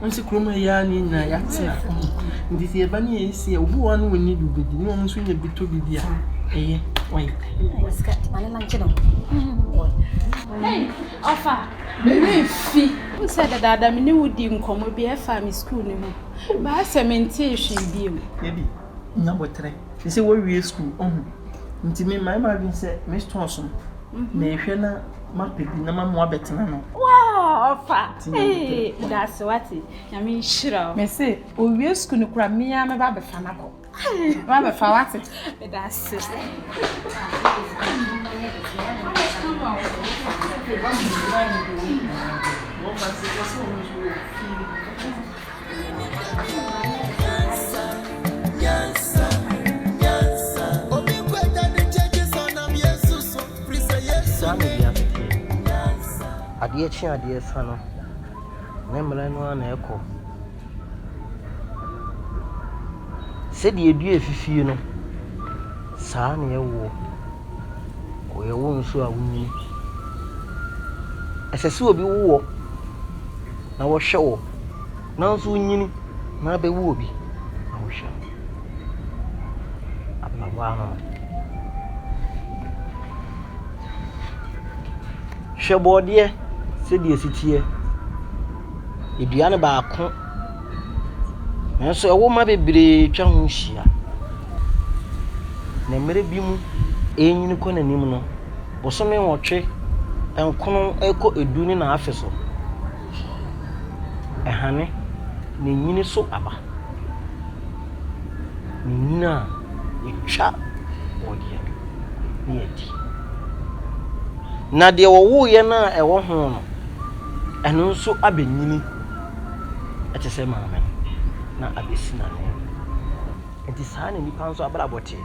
Wonsi kurom ha yi ara na yɛn nyinaa yɛatena. Nti sɛ yɛba ne yɛyɛ sei a, obi wɔ hɔ a na ɔnni bi bɛdi na wɔn nso nya bi tɔ biribi a, ɛyɛ wɔyɛ. Ɔfa, merefi. Wo sɛ dadaada me ne wo di nkɔmmɔ bi ɛfa me sukuu no ho. Baa sɛ mentee hwee bio. Dabi, nya boterɛ. Te sɛ woawie sukuu, ɔho. Nti me mmae m'adwene sɛ me stores no, mehwɛ na. Mapɛ bi na mamoa bɛtena no. Wow, ɔfa. Ee, daase wate. Nyame nhyira o. Mese, owie sukuu no kora mmea mɛba bɛfa no akɔ. Mɛba bɛfa wate. Daase. Daase. Saa na wiase teɛ. Adeɛ kye adeɛ sa no, ne mmerɛ no ara na ɛkɔ. Sɛdeɛ dua fifie no, saa na ɛwoɔ. Wɔyɛ wo nso a wonyini. Ɛsɛ sɛ obi wo wo na ɔhwɛ wo. nanso onyini na abɛwo obi na wohwɛ no. Abeawa no no. Hwɛ bɔɔdeɛ sɛdeɛ ɛsi teɛ. Ɛdua no baako nanso ɛwoma bebree atwa ho ahyia. Na mmerɛ bi mu ɛrenyini kɔ n'anim no, bosome nwɔtwe, nkron ɛkɔ du ne n'afe so. Ɛhane na enyini so aba. Na enyini a, yɛtwa bɔdeɛ no na yɛdi. Na deɛ wɔwoeɛ no a ɛwɔ ho no, ɛno nso abɛnyini te sɛ maame no na abɛsi n'ananmu. Enti saa na nnipa nso abrabɔ te.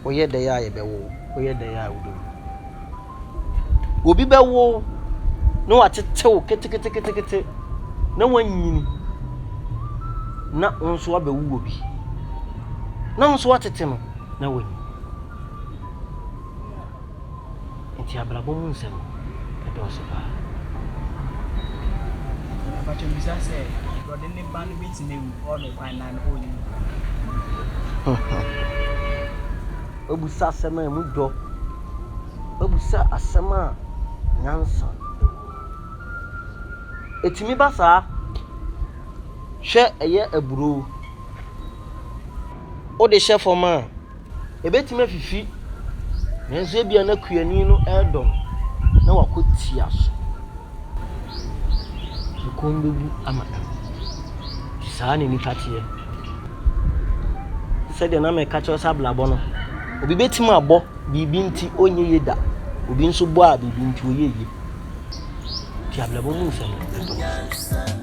Woyɛ dɛn a, yɛbɛwo wo. Woyɛ dɛn a, wobɛwu. Obi bɛwo wo na watete wo keteketekete na woanyini na wo nso abɛwo wɔ bi na wo nso watete no na wanyin. Nti abrabɔ mu nsɛm ɛdɔɔso paa. Mpakyɛ bisa sɛ brɔde ne ba no bɛtumi awu ɔɔdɔ kwan na ɔnyi. Woabisa asɛm a emu dɔ. Woabisa asɛm a nyansa wom. Etumi ba saa. Hwɛ ɛyɛ aburow. Wode hyɛ fam a, ebetumi afifi, nanso ebia na kuani no redɔ no na wakɔ tia so. Ɛkɔm bɛgu ama no. Saa na nnipa teɛ. Sɛdeɛ na meka kyerɛ sɛ abrabɔ no, obi bɛtumi abɔ biribi nti ɔnyɛ yie da. Obi nso bɔ a biribi nti ɔyɛ yie. Nti abrabɔ mu nsɛm no ɛtɔ no.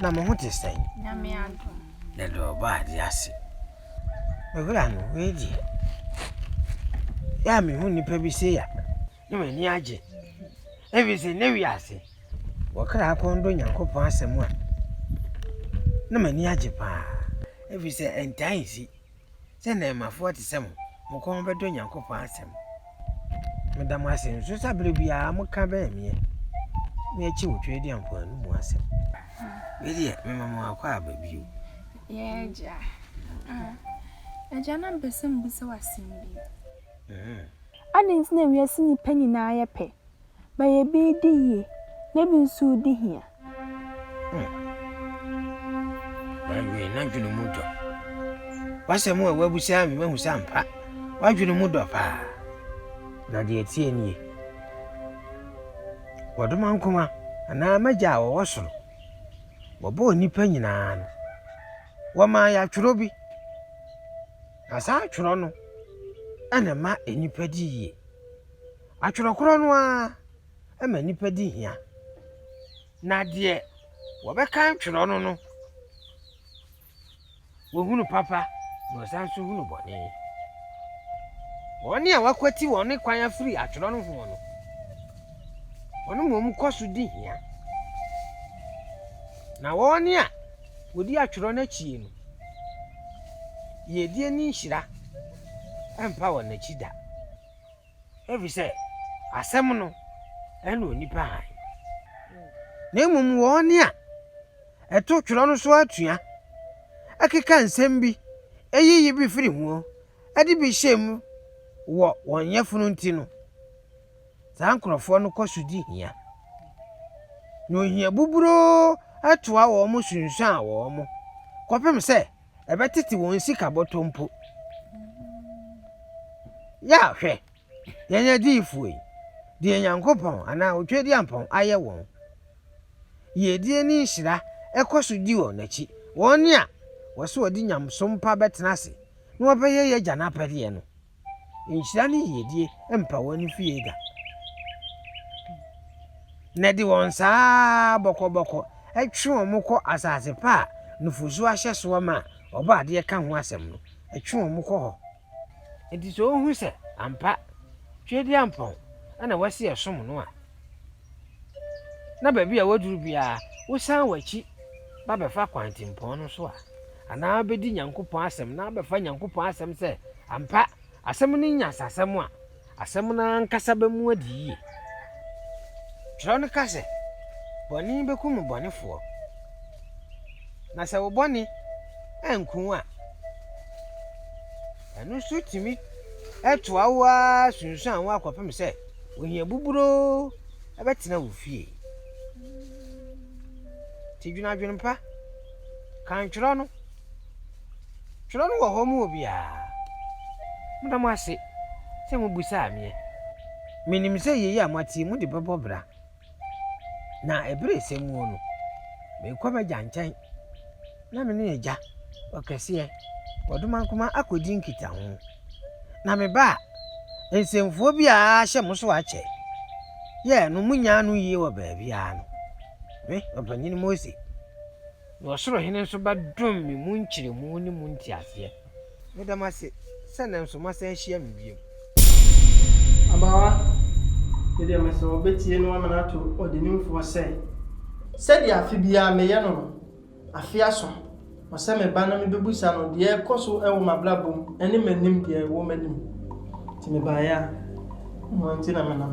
Na mo ho te sɛn? Yɛde ɔba ade ase. Owura no, wei deɛ, yɛ a mehu nnipa bi sei a, na m'ani agye. Ɛfiri sɛ nnɛ wiase, wɔkra kɔn dɔ Nyankopɔn asɛm a, na m'ani agye paa. Ɛfiri sɛ ɛntaa nsi. sɛ nnɛɛmafoɔ te sɛ mo, mo kɔn bɛdɔ Nyankopɔn asɛm. Meda mo ase nso sɛ berɛ biara moka bɛn meɛ, me akyi wo Twedeɛ mpoano mu asɛm. Wei deɛ, mema mo akɔ aba bio. Yɛ agya. Agya na mpɛ sɛ mbisa w'asɛm bi. Adɛn nti na wiase nnipa nyinaa yɛ pɛ, Ma yɛ bi redi yie, na ebi nso redi hia. Hmm. Mawie n'adwene mu dɔ. W'asɛm a w'abusa me mahu sɛ ampa. W'adwene mu dɔ paa. Na deɛ ɛteɛ nie. Wɔdoma nkoma anaa m'agya a wɔwɔ soro. Wɔbɔɔ nnipa nyinaa no. Wɔmaa yɛatwerɛ bi. Na saa atwerɛ no ɛna ma nnipa di yie. Atwerɛ korɔ no ara ma nnipa di hia, na deɛ wɔbɛkan twerɛ no no, wɔhunu papa na wɔsan nso hunu bɔne. Wɔn a wɔakwati wɔn kwan afiri atwerɛ no ho no, wɔn mmom kɔ so di hia, na wɔn a wɔdi atwerɛ no akyi no, yiedie ne nhyira mpa wɔn akyi da. Efisɛ asɛm no ne onipa hann, na mmom wɔn a ɛto twerɛ no so atua keka nsɛm bi yiyi bi firi ho de bi hyɛ mu wɔ wɔn yafunu nti no, saa nkurɔfoɔ no kɔ so di hia, na ohia buburoo toa wɔn sunsuan wɔn kɔpem sɛ ɛbɛtete wɔn sika bɔtɔ mpo. Yɛ a hwɛ, yɛn adiyifoɔ yi, deɛ Nyankopɔn anaa Otwadiampɔn ayɛ wɔn, yiedie ne nhyira kɔ so di wɔn akyi, wɔn a wɔse wɔde nyamesom pa bɛtena ase na wɔbɛyɛ yɛn Agya no apɛdeɛ no. nhyira ne yiedie mpa wɔn fie da. Na ɛde wɔn saa bɔkɔbɔkɔ twe wɔn kɔ asase pa a nufosuo ahyɛ soɔ ma a Ɔbɔ adeɛ ka ho asɛm no, ɛtwe wɔn kɔ hɔ. Enti sɛ wohu sɛ ampa Tweaduampɔn na wɔasi ɛsom no a, na baabi a woaduru biara, wosan w'akyi ba bɛfa kwantempɔn no so a, anaa wobɛdi Nyankopɔn asɛm na wobɛfa Nyankopɔn asɛm sɛ ampa asɛm no nyansasɛm a, asɛm no ankasa bɛmu adi yie. Twerɛ no ka sɛ, Bɔne bɛkum bɔnefoɔ, na sɛ wo bɔne anku wo a, Ɛno nso tumi toa wo ara sunsuan wo akɔpem sɛ ohia buburoo bɛtena wo fie. Nti dwene adwenempa. Kan twerɛ no. Twerɛ no wɔ hɔ ma obiara. Meda mo ase sɛ mobisaa meɛ. Menim sɛ yei a moateɛ mu de bɛbɔ bra. Na bere a ɛsɛ muo no, merekɔ m'agya nkyɛn na me ne agya ɔkɛseɛ Ɔdomankoma akɔdi nkitaho. Na meba a, nsɛmfua biara hyɛ mo so akyɛ. Yɛ no monyaa no yie wɔ baabiara no, me, Ɔpanin Mose. Na ɔsoro Hene nso bɛdom me mu nkyerɛmu ne mu nteaseɛ. Meda mo ase sɛ nnɛ nso moasan ahyia me bio. Abaawa, me deɛ mese wɔbɛtie na wɔamene ato ɔdenimfoɔ sɛ. Sɛdeɛ afe biara meyɛ no no, afe aso, ɔsɛ meba na mebɛbusa no deɛ ɛrekɔ so wɔ m'abrabɔ mu ne m'anim deɛ ɛwɔ m'anim. Nti mebaeɛ a, ɛno nti na menam.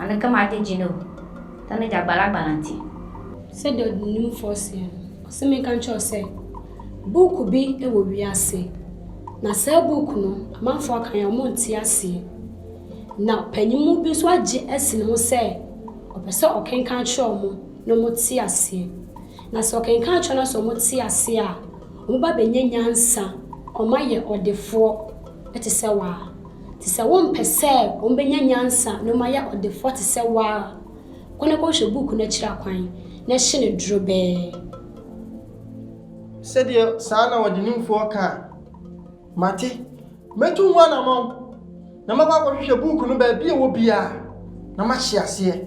Ɔno kama ade gye no o. Sɛ ne gya gbalagbala nti. Sɛdeɛ ɔdenimfoɔ seɛ no, ɔse menka nkyerɛ wo sɛ buuku bi wɔ wiase, na saa buuku no amanfoɔ aka yɛn a wɔnte aseɛ. Na panyinmu bi nso agye asi ne ho sɛ ɔpɛ sɛ ɔkenkan akyerɛ wɔn na wɔte aseɛ. Na sɛ ɔkenkan akyerɛ wɔn na sɛ wɔte aseɛ a, wɔba bɛnya nyansa, wɔayɛ ɔdefoɔ. te sɛ wo ara, te sɛ wompɛ sɛ wɔbɛnya nyansa na wɔayɛ ɔdefoɔ te sɛ wo ara. Kɔ na kɔhwɛ buuku no akyiri akwan na hye no drobɛɛ. Sɛdeɛ saa na ɔdenimfoɔ ka a, mate. Mɛtu ho anamɔn, na makɔ akɔhwehwɛ buuku no baabi a ɛwɔ biara, na mahye aseɛ.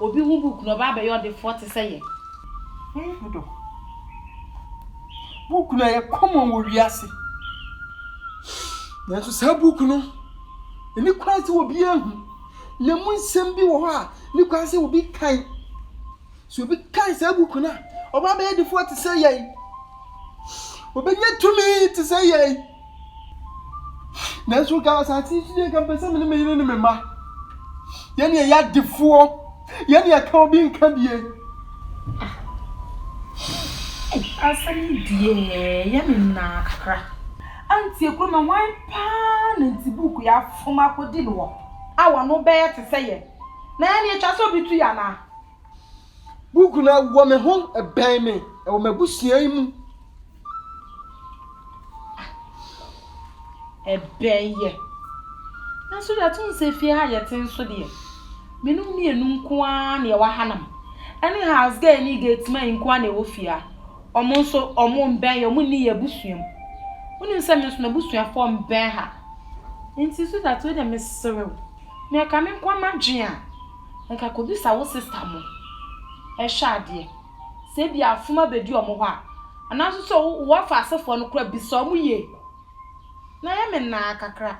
Obi hu book na ɔba abɛyɛ ɔdefoɔ te sɛ yɛn. Hwɛ ɔdɔ. Book no ɛyɛ common wɔ wiase. Nanso saa book no, ɛni kwan sɛ obi ahu. Na mu nsɛm bi wɔ hɔ a, ne kwan sɛ obi kan. So obi kan saa book no a, ɔba abɛyɛ ɔdefoɔ te sɛ yɛn. Obɛnya tumi te sɛ yɛn. Nanso nka asase yi so deɛ nka mpɛ sɛ me ne me yere ne me mma. Yɛn deɛ yɛ adefoɔ. Yɛn deɛ ka obi nka bie. Asɛm yi deɛ yɛ me nnaa kakra. Anti Ekuro na hwan paa na nti book yi afom akɔdi no hɔ a wɔn ano bɛyɛ te sɛ yɛn? Na yɛn deɛ ɛtwa sɛ obi tu yɛn anaa? Buku no wɔ me ho, ɛbɛn me, ɛwɔ m'abusua yi mu. Ɛbɛn yɛ. Nanso deɛ atom sɛ fie ha yɛte nso deɛ, me ne wo mmienu nko ara na yɛwɔ ha nom. Ɛne house girl ne gate man nko ara na ɛwɔ fie ha. Wɔn nso, wɔn mbɛn yɛ, wɔn nni yɛn abusua mu. Wonim sɛ me nso m'abusuafoɔ mbɛn ha. Nti Sweetheart wei deɛ meserew, nea ɛka me nko ara m'adwene a, nka kɔbisa wo sista mo hwɛ adeɛ sɛ ebia afom abɛdi wɔn hɔ a anaa nso sɛ wo wɔfa asefoɔ no koraa bisa wɔn yie na ayɛ me nnaa kakra.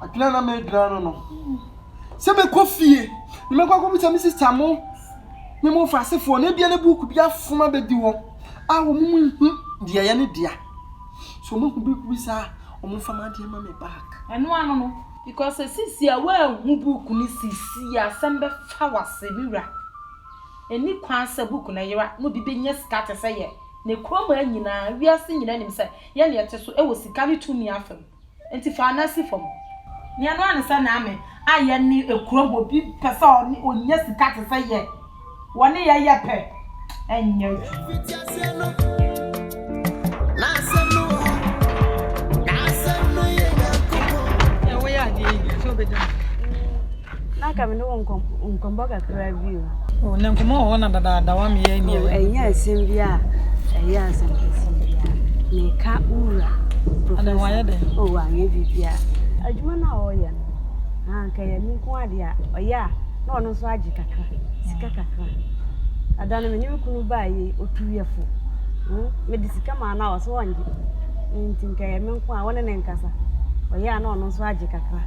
Adwene na medwene ano no sɛ mɛkɔ fie na mɛkɔ akɔbisa me sista mo ne mo wɔfa asefoɔ no ebia ne buuku bi afom abɛdi wɔn a wɔn mu nhu deɛ yɛ ne dea so wɔn ahu buuku bi saa wɔn mfa ma adeɛ ma me back. Ɛno ano no. Because esisi a woanhu book no sisi a asɛm bɛfa w'ase me wura. Ɛnni kwan sɛ book no yera na obi bɛnya sika te sɛ yɛ na kurom ha nyinaa wiase nyinaa nim sɛ yɛ na yɛte so wɔ sika ne tumi afa mu nti fa wo nan si fam. Nea ɛno ara ne sɛ Naame a yɛne kurom obi pɛ sɛ ɔne ɔnya sika te sɛ yɛ. wɔne yɛn yɛ pɛ nyɛ adwuma. na ka me ne wo nkɔmmɔ kakra bi o na nkɔmmɔ wɔ hɔ na dadaada wa meyɛ ni ɛnyɛ asɛm bi a ɛyɛ asɛm kɛse bia meka wura professor o anyɛ biribi a adwuma no a wɔyɛ no sɛ ɛyɛ me nko ara deɛ a, ɔyɛ a, na ɔno nso agye kakra, sika kakra. Ada no, me ne me kunu baeɛ, ɔtu yɛ fo. Hmm? Mede sika maa no a, ɔsɛ ɔngye. Nti nka ɛyɛ me nko a, wɔne ne nkasa. Ɔyɛ a, na ɔno nso agye kakra.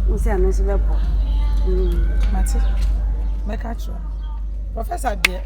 Mo sɛ ɛno nso bɛboa. Hmm. Mate. Mɛka kyerɛ. Professor deɛ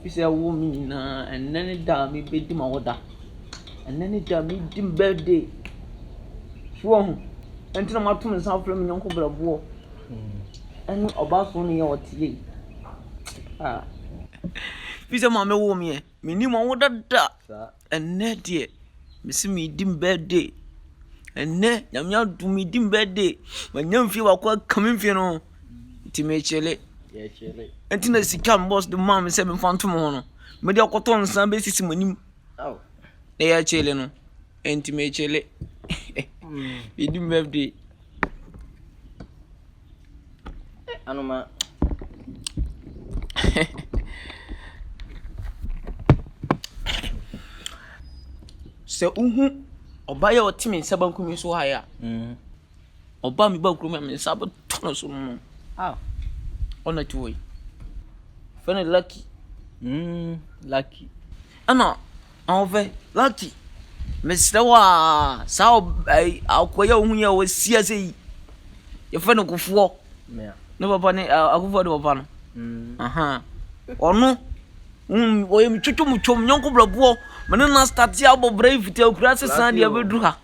Efisɛ wowɔ me nyinaa. Ɛnnɛ ne da a mibedi m'awoda. Ɛnnɛ ne da a midi me birthday. So woahu? Ɛno nti na mato me nsa afrɛ me yɔnko brɛboɔ ne ɔbasoni a ɔteɛ yi. Ah! Efisɛ maame woo me ɛ. Minni m'awoda da. Ɛnnɛ deɛ mese meredi me birthday, ɛnnɛ Nyame adom meredi me birthday, manya mfeɛ baako aka me mfeɛ no ho nti merekyele, ɛnti na sika a me boss de maa me sɛ memfa nto mo ho no mede akɔtɔ nsa bɛsisi mo anim na yɛakyele no, ɛnti merekyele, meredi me birthday. Sɛ wohu ɔbaa yi a ɔte me nsa benkum yi so ha yi a, ɔbaa me baa kurom a, me nsa bɛtɔ no so mm. Ah. Ɔna ti hɔ yi. Fɛ no Lucky. Mm, Lucky. Ɛna Ahoɔfɛ, Lucky, mesrɛ wo a, saa akoa yi a wohu yi a wasi ase yi, yɛfrɛ no Kofoɔ, ne papa ne Akofoɔ ne papa no, mm. ɔno wɔyɛ metwotwo motwom nyɔnko brɛboɔ mene no astate abɔ bra yi fiti akura ase san deɛ bɛduru ha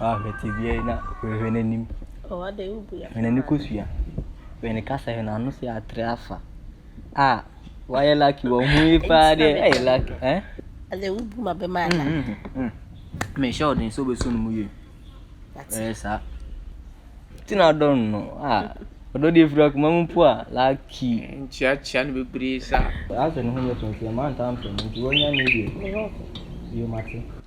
Ɔahwɛ tsebea yi na oehwɛ n'enyim. Hwɛ ne kosua, hwɛ ne kasa, hwɛ n'ano si atrɛ afa. Ah, ɔayɛ lucky wɔ ho yi paa dɛ, ɔayɛ lucky eh. Adze a wobu ma bɛma ada. Mehyɛ wo den sɛ wobɛso no mu yie. Ɛyɛ saa. Ti na adɔ no no, ah, ɔdɔ deɛ firi akoma mu mpo a, lucky. Nkyeakyea no bebree saa. Asɛ ne ho yɛ tɔnn nti ɛma ntaa mpɛ no nti wanya ne deɛ. Bio mate.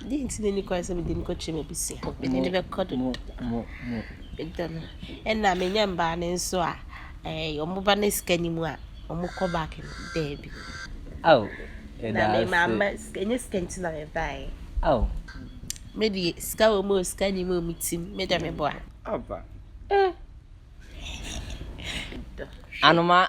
Dɛn nti na enni kwan sɛ mede no kɔkyerɛ m'abusua? Mede no bɛkɔ do. Medɔ no. Ɛna menya mbaa no nso a, ɛɛ wɔn ba no sika ni mu a, wɔkɔ back no, daabi. Ao, yɛda ase. Na mama sika, ɛnyɛ sika nti na mebaeɛ. Ao. Me deɛ, sika wɔ mu o, sika ni mu o, me tim, me dɔ me boa. Aba. Ɛɛ. Medɔ. Anoma.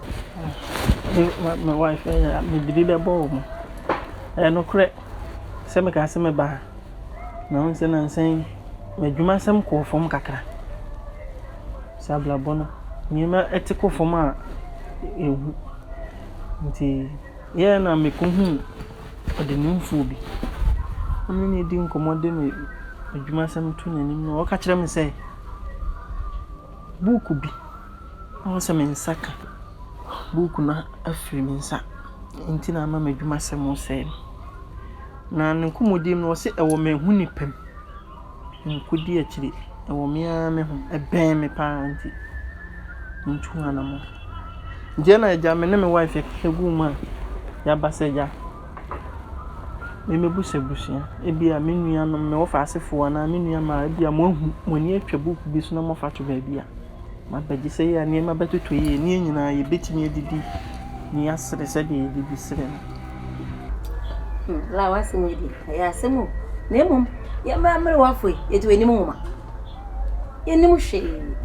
Me wife ɛyɛ a mede bi bɛbɔ wɔn. Ɛyɛ nokorɛ sɛ mekaa sɛ mɛba ha na wohu sɛ nnansa yi m'adwuma nsɛm kɔɔ fam kakra. Sɛ abrabɔ no nneɛma te kɔ fam a ɛhu nti ɛyɛɛ na mekɔhuu ɔdenimfoɔ bi. Me ne no redi nkɔmmɔ de m'adwuma nsɛm to n'anim no ɔka kyerɛɛ me sɛ. buuku bi a ɔwɔ sɛ me nsa ka. Buuku no afiri me nsa, nti na ama m'adwumasɛm resɛe no. Na ne nkɔmmɔdi mu no, ɔse ɛwɔ me ho nipa mu. Menkɔdi akyire, ɛwɔ me ara me ho. Ɛbɛn me pa ara nti, mentu ho anammɔn. Nti ɛnna agya me ne me wife yɛkasa guu mu a, yɛaba sɛ agya. me m'abusabusua, ebia me nuanom, me wɔfa asefo anaa me nua mmaa, ebia mo ahu, mo ani atwa book bi so na mo afa ato baabi a, m'aba gye sɛ yɛ a nneɛma bɛtotɔ yie, ne yɛn nyinaa yɛ bɛtumi adidi ne yɛ asere sɛdeɛ yɛ didi sere no. Hmm, la w'asɛm yi deɛ, ɛyɛ asɛm o. Na mmom, yɛmmra mmere w'afoe, yɛte w'anim nwoma. Yɛnnim hwee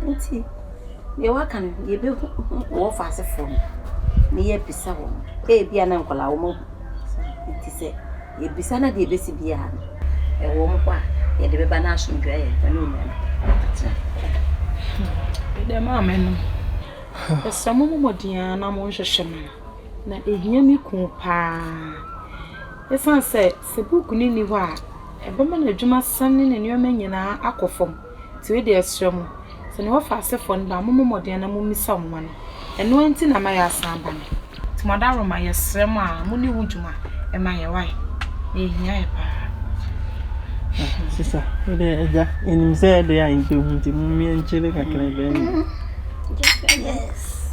nti deɛ waka no yɛbɛhu wɔ fa ase foɔ no na yɛabisa wɔ mo ɛbia na nkɔla wɔ mo ahu nti sɛ yɛbisa na deɛ ɛbɛsi biara no ɛwɔ mo hɔ a yɛde bɛba no asomdwa yɛ ɛne ɔnya no atena ɛdɛ maa me no ɛsɛ mo mɔmɔdea na mo nhwehwɛ no na ɛhia me kuu paa ɛsiane sɛ Sɛ book no nni hɔ a, ɛbɛma n'adwuma san ne ne nneɛma nyinaa akɔ fam. Nti wei deɛ ɛsrɛ mo, sɛ ne wɔfa asefoɔ no ba a, mo mmɔ mmɔden na mo mmisa wɔn ano. Ɛno ara nti na ama yɛ asan aba no. Nti mo adaworoma, yɛ srɛ mo a, mo nni ho dwuma mma yɛ wai, na yɛ hia yɛ paa. Ah, sisa, wo deɛ agya, ɛnim sɛ ɛdeɛ a yɛmpɛ hu nti mo mmea nkyele kakra bɛɛ. Yes.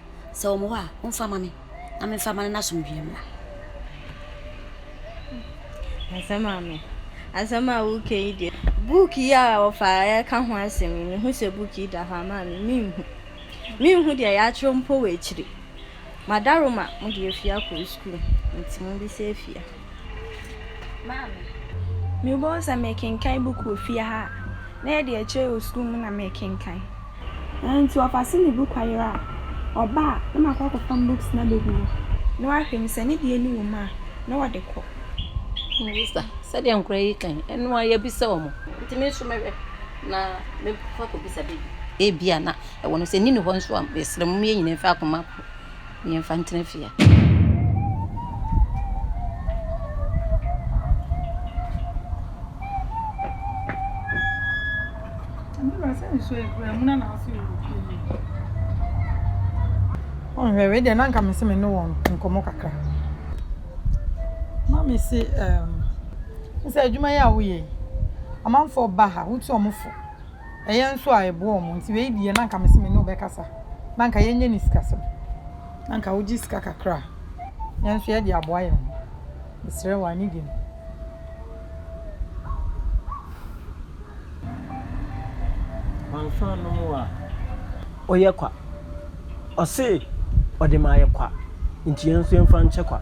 Sɛ wɔn wɔ hɔ a, momfa mma me, na memfa mma no n'asomdwoeɛ mmra. Asɛm a me. Asɛm a woka yi deɛ, book yi a wɔfa reka ho asɛm yi, mehu sɛ book yi da hɔ a, maa me menhu. Menhu deɛ yɛatwerɛ mpo wɔ akyire. M'adaroma, mode afie akɔ sukuu, nti mobisa afie. Maame, Mebɛhu sɛ mekenkan buku wɔ fie ha a, na ɛyɛ deɛ ɛkyerɛ wɔ sukuu mu na mekenkan. Ɛnti ɔfa se ne book ayera a, ɔba a, na makɔ akɔfam books no abɛgu hɔ, na wahwɛ mu, sɛ ne deɛ no wɔ mu a, na ɔde kɔ. Melissa, Sɛdeɛ nkwadaa yi kan, ɛno ara yɛbisa wɔn. Nti me nso mɛhwɛ na mefa akɔbisa baabi. Ebia na ɛwɔ no, sɛ nni ne hɔ nso a, mesrɛ mo, moyɛ nyinaa mfa akoma kɔ. Yɛmfa ntena fie. Ɔnhwɛ wei deɛ na nka mese me ne wɔn nkɔmmɔ kakra na mese um, sɛ adwuma yi a woyɛ yi amanfoɔ ba ha wotu wɔn fo ɛyɛ nso a ɛboa wɔn nti wei deɛ na anka mese me ne wo bɛkasa na anka yɛnyɛ ne sikasɛm na anka wogye sika kakra a yɛn nso yɛde aboa yɛn ho mesrɛ wɔ anigye mu wanso anom a ɔyɛ kwa ɔse ɔde ma ayɛ kwa nti yɛn nso yɛmfa nkyɛ kwa.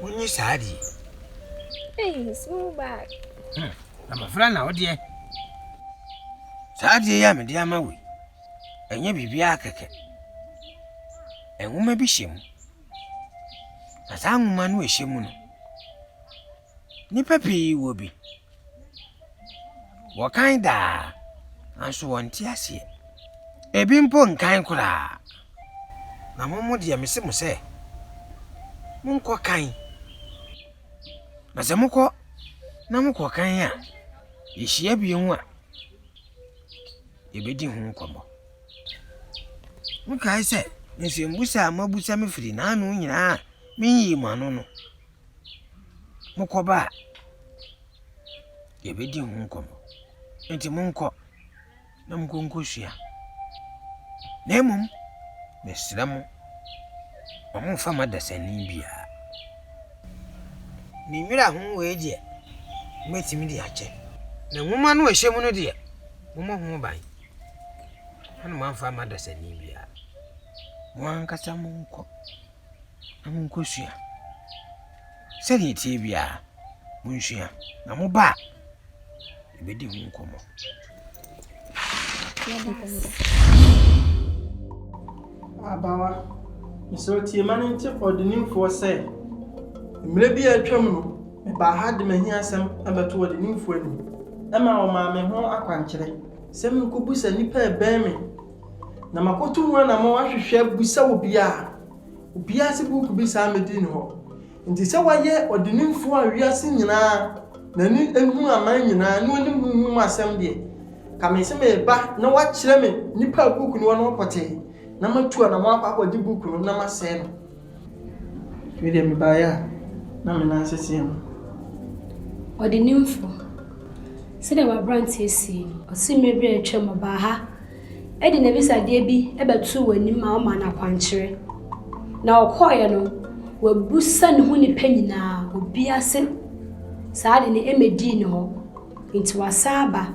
Wonni saa de. Hey, small bag. Hmm, abɔfra na wodeɛ. Saa adeɛ yi a mede ama wei, ɛnyɛ biribiara kɛkɛ. Nwoma bi hyɛ mu. Na saa nwoma no ɛhyɛ mu no, Nnipa pii wɔ bi. Wɔkan daa, nanso wɔnte aseɛ. Ebi mpo nkan koraa. Na mo mo deɛ, mese mo sɛ, monkɔ kan. Na sɛ mokɔ na mokɔ kan a, yɛhyia bio a, yɛbɛdi ho nkɔmmɔ. Mokae sɛ nsɛmmisa a moabusa me firi n'ano nyinaa a menyii mo ano no, Mokɔ ba a, yɛbɛdi ho nkɔmmɔ. Enti monkɔ na monkɔ nkɔsua. Na mmom, mesrɛ mo, wɔmfa mo adasani biara. Ne nwera ho wei deɛ, mobɛtumi de akyɛ. Na nwoma no a ɛhyɛ mu no deɛ, mommɔ ho ban na moamfa mo adasani biara. Mo ankasa monkɔ. na monkɔsua. Sɛdeɛ ɛteɛ biara, monsua, na moba a, yɛbɛdi ho nkɔmmɔ. Abawa, mesrɛ tie ma no nte ɔdenimfoɔ sɛ, mmerɛ bi a atwam no, mebaa ha de m'ahiasɛm bɛto ɔdenimfoɔ anim. Ɛma ɔmaa me ho akwankyerɛ sɛ menkɔbisa nnipa a ɛbɛn me Na makoto mu anamɔn ahwehwɛ abisa obiaa, obiaa se book bi saa mmedi ne hɔ. Nti sɛ wayɛ ɔdenimfoɔ a wiase nyinaa n'ani hu aman nyinaa ne onim honhom mu asɛm deɛ, ka mese mereba na wakyerɛ me nnipa a book no wɔ no hɔ pɔtee na matu anamɔn akɔ akɔgye book no na masɛe no. Me deɛ mebaeɛ a, na me nan seteɛ mu. Ɔdenimfo, sɛdeɛ w'aberanteɛ sie no. Ɔse mmerɛ bi a atwam ɔbaa ha de n'abisadeɛ bi bɛtoo w'anim ma womaa no akwankyerɛ. Na ɔkɔeɛ no, wabusa ne ho nnipa nyinaa, obiara se saa ade no mmɛdii ne hɔ. Nti wasan aba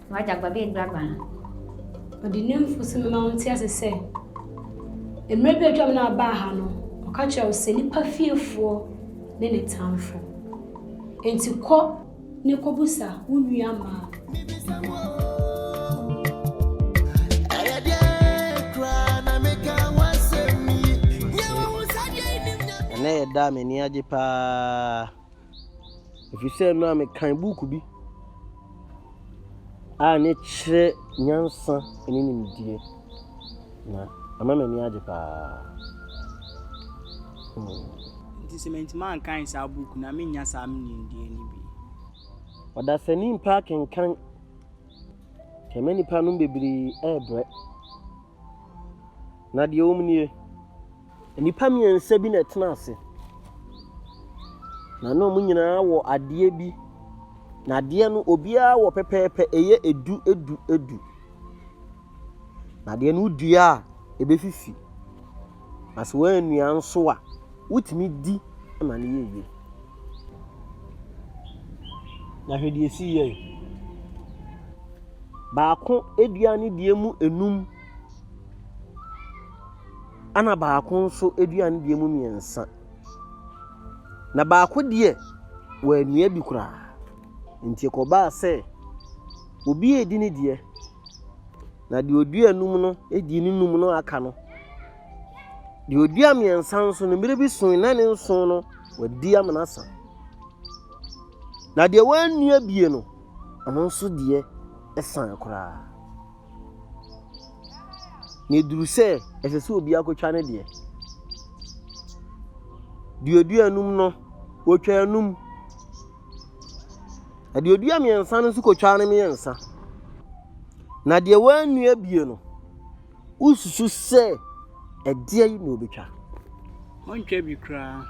W'adagba bɛyɛ grabaa. Ɔde ne mfusu bɛma wo nte ase sɛ, Mmerɛ bi a atwam na wabaa ha no, ɔka kyerɛɛ wo sɛ nipa fiefoɔ ne ne tamfo. Enti kɔ ne kɔbusa wo nua Mark mmoa. Ɛnnɛ yɛ da a m'ani agye paa. Ɛfiri sɛ nnora mekan buuku bi a ne kyerɛ nyansa ne nimdeɛ, na ama m'ani agye paa. Hmm. Nti sɛ mantumi ankan saa buuku na mennya saa nimdeɛ no bi. Ɔdasani mpɛ akenkan. Kɛmɛ nipa nom bebree ɛɛbrɛ. Na deɛ wɔm nie. Nnipa mmiɛnsa bi na ɛtena ase, na na wɔn nyinaa wɔ adeɛ bi, na adeɛ no obiara wɔ pɛpɛɛpɛ, ɛyɛ edu edu edu. Na adeɛ no wodua a, ɛbɛfifi. Na sɛ woannua nso a, wotumi di ma no yɛ yie. Na hwɛ deɛ ɛsii yɛe. Baako dua ne deɛ mu nnum. Ɛna baako nso adua no deɛ mu mmiɛnsa. Na baako deɛ wɔannua bi koraa. Nti ɛkɔbaa sɛ obi redi ne deɛ, na deɛ ɔdua anum no di ne num no aka no. Deɛ ɔdua mmiɛnsa nso no mmerɛ bi so na ne nson no wadi amena asa. Na deɛ wɔannua bie no, ɔno nso deɛ san koraa. Na ɛduru sɛ ɛsɛ sɛ obi akɔtwa ne deɛ. Deɛ ɔdua anum no, wɔtwa anum. Na deɛ ɔdua mmiɛnsa no nso kɔtwa no mmiɛnsa. Na deɛ wɔannua bie no, wosusu sɛ ɛdeɛ yi na ɔbɛtwa. Wɔntwa bi koraa.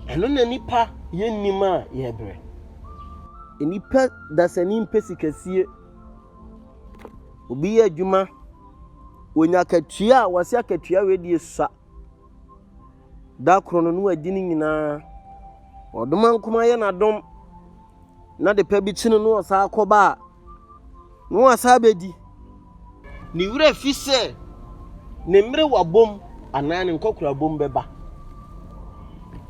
Ɛno na nipa yɛ nnim a yɛbrɛ. Nipa dasani mpɛ sikasie. Obi yɛ adwuma, onya akatua a, wɔse akatua wei deɛ sua. Da koro no na wadi ne nyinaa. Ɔdoma nkoma yɛ n'adom na de pa bi kyi no na ɔsan akɔba a, na wasan abɛdi. Ne werɛ fi sɛ ne mmere wabom anaa ne nkɔkorabom bɛba.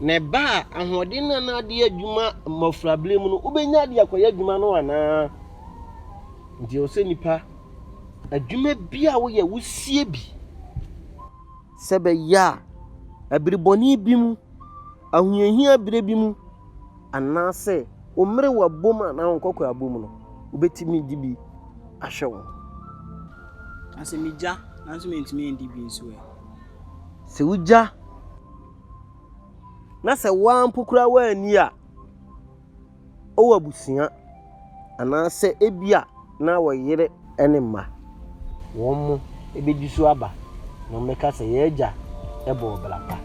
Na ɛba a, ahoɔden no a na ade yɛ adwuma mmofraberem no, wobɛnya de akɔyɛ adwuma no anaa? Nti ɛwɔ sɛ nipa, adwuma bi a woyɛ, wosie bi sɛ bɛyɛ a ɛbere bɔne bi mu, ahohiahia bere bi mu, anaasɛ wo mmere wabom anaa wo nkɔkɔ abom no, wobɛtumi de bi ahwɛ wo ho. Na sɛ megya nanso mentumi ndi bi nso ɛ? sɛ wugya na sɛ wo ara mpo koraa woanni a, wowɔ abusua anaasɛ ebia na wɔ yere ne mma. Wɔn mo bɛdi so aba na wɔbɛka sɛ, Yɛn agya bɔɔ bra pa.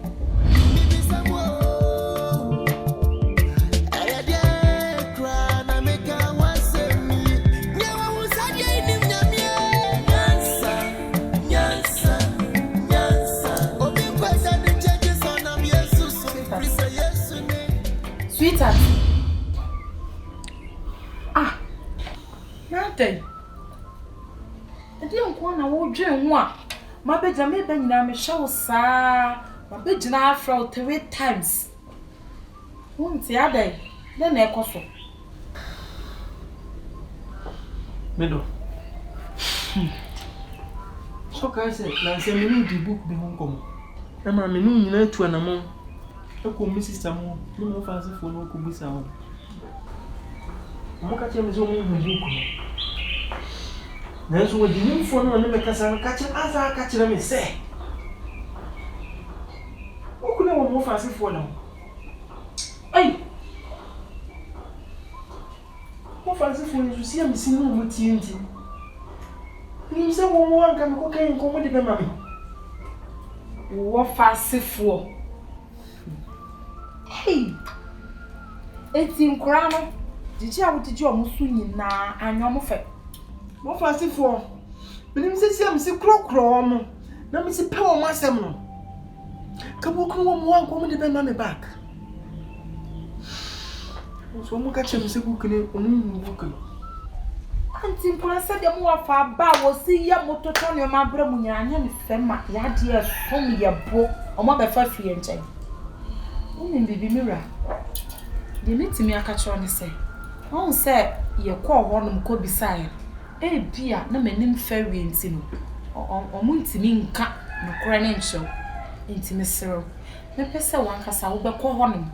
Sweetheart ah na adɛn ɛdeɛ nko ara na wodwen ho a mabɛgyina meba nyinaa mehyɛ wo saa mabɛgyina afrɛ wo three times. Wonte adɛn? Dɛn na ɛkɔ so? Me dɔ, hmm, sɛ wokae sɛ nnansa me ne wo dii book bi ho nkɔmmɔ? Ɛma me ne wo nyinaa tu anamɔn kɔɔ me sista mu hɔ, me ne wo fa asefoɔ no kɔbisaa wɔn. Wɔka kyerɛɛ me sɛ wɔhu book no. Nanso wɔde nimfoɔ no a ɔne me kasa no ka kyerɛ, asan aka kyerɛ me sɛ, Wokunuu wɔn wɔ Farisifoɔ no ho. Ei! Mo Farisifoɔ yi nso, siamisi no na motie nti, menim sɛ mo mu anka mekɔkan nkɔm de bɛma me. Wowɔ Farisifoɔ. Ei! Enti nkoraa no, gyegye a wogyegye wɔn so nyinaa anyɛ wɔn fɛ? Mo Farisifoɔ, menim sɛ siamisi korɔkorɔ wɔn. na me si pɛ wɔn asɛm no ka wɔn kunu wɔn wa nkɔm de bɛ ma me back nso wɔn ka kyerɛ me sɛ book no wɔn nhu book no anti nkura sɛ deɛ mo wɔ fa ba a wɔsi yɛ mo totɔ nneɛma abere mo nyinaa nyɛ ne fɛ ma yadeɛ fam yɛ bo wɔn abɛfa fie nkyɛn wɔn nim biribi mi wura deɛ mi tumi aka kyerɛ ne sɛ wɔn sɛ yɛ kɔɔ hɔ nom kɔ bisaeɛ. Ebia na m'anim fɛreɛ nti no, wɔntumi nka nokorɛ no nkyerɛ wo. Enti mesrɛ wo, mɛpɛ sɛ w'ankasa wobɛkɔ hɔnom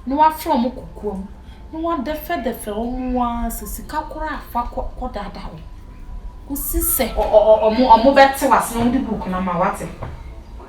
na woafrɛ wɔn kokoam na woadɛfɛdɛfɛ wɔn ara sɛ sika koraa fa kɔdaadaa wɔn kɔsi sɛ wɔbɛte w'ase na wɔde buuku no ama wo. Woate?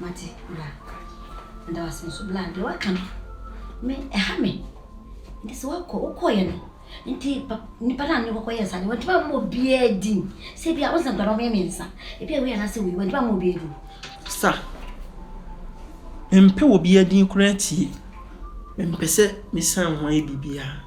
Mate, bra. Meda wo ase nso, bra. Deɛ woaka no, me, ɛha me. Nti sɛ woakɔ, wokɔeɛ no, nti pa, nnipa no a ne kɔkɔ yɛɛ saa deɛ, wɔntumi ammɔ obiara din. Sɛ bi a, wo sɛ nkwadaa wɔyɛ mmiɛnsa. Ebi a wei anaasɛ wei, wɔntumi ammɔ obiara din. Sa, mempɛ obiara din koraa tie. Mempɛ sɛ mesan ho ayɛ biribiara.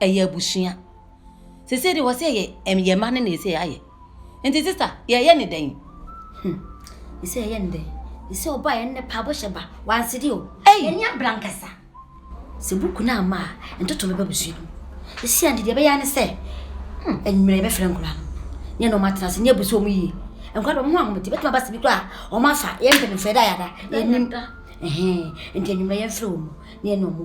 ɛyɛ abusua sese de wɔsɛ yɛ ɛm yɛ mma ne na ɛsɛ ayɛ nti sista yɛyɛ ne dɛn hmm ɛsɛ yɛyɛ ne dɛn ɛsɛ ɔba yɛ nnɛ paabo hyɛ ba wansede o ɛni abra nkasa sɛ buku no ama a ntoto bɛba busua no ɛsi ante deɛ ɛbɛyɛ ne sɛ hmm ɛnwummerɛ yɛbɛfrɛ nkora no ne na ɔma tena ase ne abusua ɔmo yie nkora de ɔmo ho ahomete bɛtuma ba sibi kora ɔmo afa yɛmpɛ ne mfɛ da yada yɛnim ɛhɛn nti ɛnwummerɛ yɛmfrɛ ɔmo ne ɛna ɔmo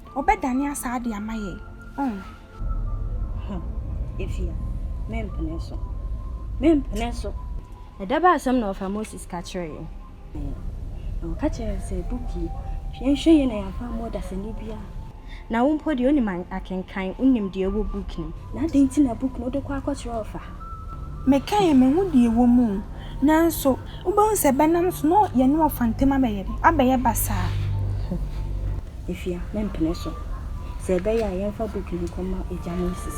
Ɔbɛdane asa ade ama yɛn. Ɔn. Huh. Efia, mempene so. Mempene so. Ɛda bɛn asɛm na ɔfa Moses ka kyerɛɛ yɛn? Ɛɛ, na ɔka kyerɛɛ yɛn sɛ, Bɔ pue, hwɛ nhwɛ yie na yɛamfa ammu ɔdasani biara. Na wo mpo deɛ wonim akenkan, wonim deɛ ɛwɔ book no mu. Na adɛn nti na book no wode kɔ akɔkyerɛ ɔfa? Mekae, mehu deɛ ɛwɔ mu. Nanso, wobɛhu sɛ bɛnam so na yɛne wɔfa ntam abɛyɛ dɛ, abɛyɛ basaa. Afia, mempene so. Sɛ ɛbɛyɛ a, yɛmfa book no nkɔma Agya Moses.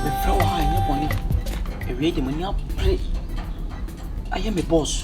Mefrɛ wo ha nyɛ bɔne, awiei de m'ani abere ayɛ me boss.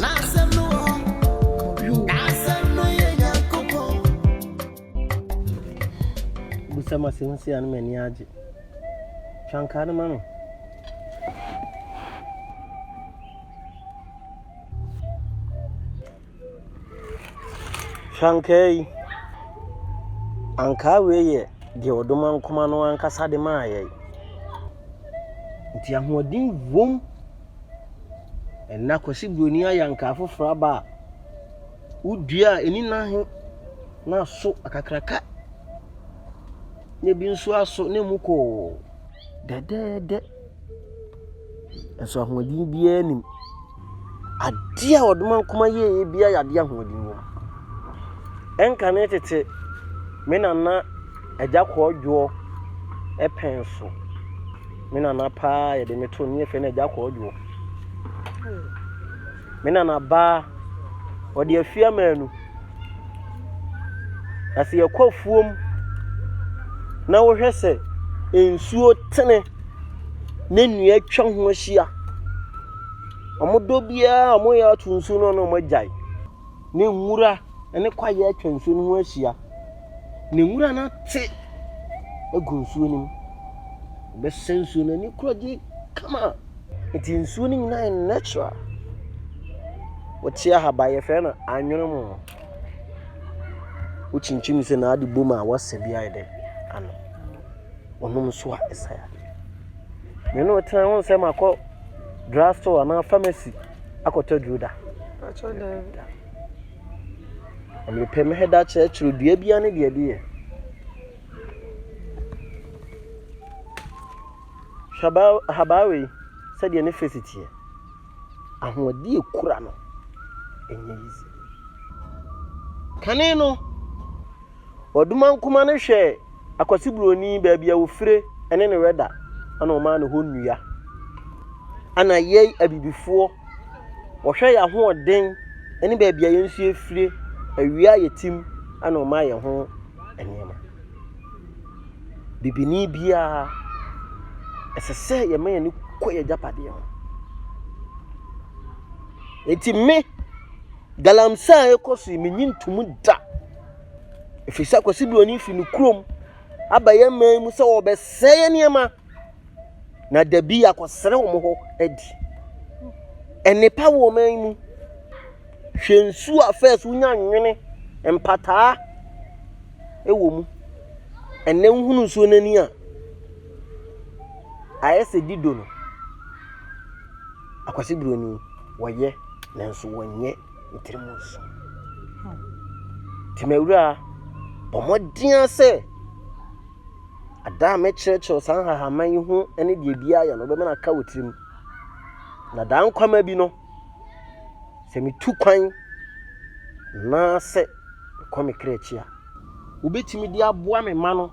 N'asɛm no wɔ hɔ. N'asɛm no yɛ Nyankopɔn. Bu sɛ mase ho sei a na m'ani agye. Twa nkaa no ma me. Twa nkaa yi. Ankaa wei yɛ deɛ ɔdoma nkoma no ankasa de maa yɛn. Nti ahoɔden wom. Ɛnna Kwasi Buroni ayɛ ankaa foforɔ aba a wodua a ɛni nan he na aso akakraka na ebi nso aso na emu kɔɔ dɛdɛɛdɛ. Nso ahoɔden biara nnim. Adeɛ a Ɔdomankoma yɛeɛ biara yɛ adeɛ a ahoɔden wom. Ɛnkane tete, me nana Agya kɔɔdwoɔ pɛn so. Me nana paa yɛde me to ne yɛfrɛ no agya kɔɔdwoɔ. Me nana baa ɔde afie amaanu. Na sɛ yɛkɔ afuom na wohwɛ sɛ nsuo tene na nnua atwa ho ahyia. Wɔdɔ biara a wɔyɛ ato nsuo no na wɔagyae. ne nwura ne kwaeɛ atwa nsuo no ho ahyia, na nwura no ate agu nsuo no mu. Ɛbɛsɛ nsuo no ani kura gye kama. Nti nsuo no nyinaa yɛ natural. Wote ahaba yɛfrɛ no anwene mu. Wokyinkyim sɛ na ade bom a wasa bi ayɛ dɛ ano. Wonom nso a ɛsa yadeɛ. Me ne wo tena ho sɛ makɔ drug store anaa pharmacy. akɔtɔ aduro da. Atwa daabi. Mepɛ me hɛda kyerɛkyerɛ dua bia ne deɛ de yɛ. Hwabaa ahabaa wei sɛdeɛ ne fesi teɛ. Ahoɔden ekura no. Ɛnyɛ yizi. Kane no. Ɔdomankoma no hwɛɛ Akwasi Buroni baabi a ɔfire ne ne wɛda na ɔmaa no hɔ nnua. Ana yɛi abibifoɔ, ɔhwɛ yɛn ahoɔden ne baabi a yɛn nso yɛfire, awia a yɛtim na ɔma yɛn ho nneɛma. Bibini biara, ɛsɛ sɛ yɛma yɛn kɔ yɛn agyapadeɛ ho. Enti me, galamsey a ɛkɔ so yi, menyi ntomu da Ɛfiri sɛ Kwasi Buroni firi ne kurom aba yɛn man mu sɛ wɔbɛsɛe yɛn nneɛma na dabi akɔsrɛ wɔn hɔ adi. Nnepa wɔ man mu. Hwɛ nsuo a fɛs wonya nwene mpataa wɔ mu. Ɛnɛ wohunu nsuo no ani a ayɛ sɛ dido no. Akwasi Buroni wɔyɛ nanso wɔnyɛ. ne tirim nso. Nti m'awura, bɔ mmɔden ara sɛ ada a mɛkyerɛkyerɛ saa nhahamma yi ho ne deɛ biara yɛ no wobɛma no aka wɔ tirim. Na daa nkwama bi no, sɛ metu kwan anaasɛ mekɔ me kra akyi a, wobɛtumi de aboa me ma no